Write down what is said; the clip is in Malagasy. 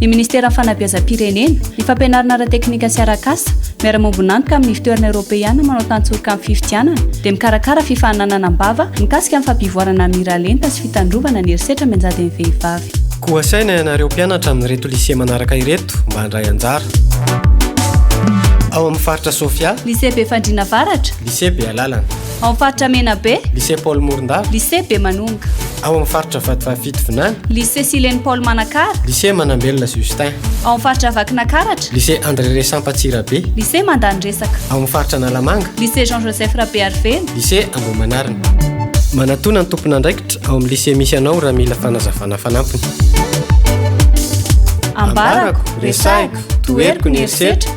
ny Ministeran'ny Fanabeazam-pirenena, ny Fampianarana Ara-teknika sy Arak'asa, miara-miombon'antoka amin'ny Ivontoerana Eoropeana manao tantsoroka amin'ny fifidianana, dia mikarakara fifaninanana am-bava mikasika ny fampivoarana ny miralenta sy fitandrovana ny herisetra mianjady amin'ny vehivavy. Koa asaina ianareo mpianatra amin'ireto Lycée manaraka ireto mba handray anjara. Ao amin'ny Faritra Sofia. Lycée Befandriana Avaratra. Lycée Bealalana. Ao amin'ny faritra Menabe. Lycée Paul Morondava. Lycée Bemanonga. Ao amin'ny faritra Vatovavy Vinany. Lycée Sileny Paul Manakara. Lycée Manambelona Justin. Ao amin'ny faritra Vakinakaratra. Lycée André Resampa Tsirabe. Lycée Mandany Resaka. Ao amin'ny faritra Analamanga. Lycée Jean Joseph Rabearivelo. Lycée Ambohimanarina. Manatona ny tompon'andraikitra ao amin'ny lycée misy anao raha mila fanazavana fanampiny. Ambarako, resahiko, toheriko ny herisetra.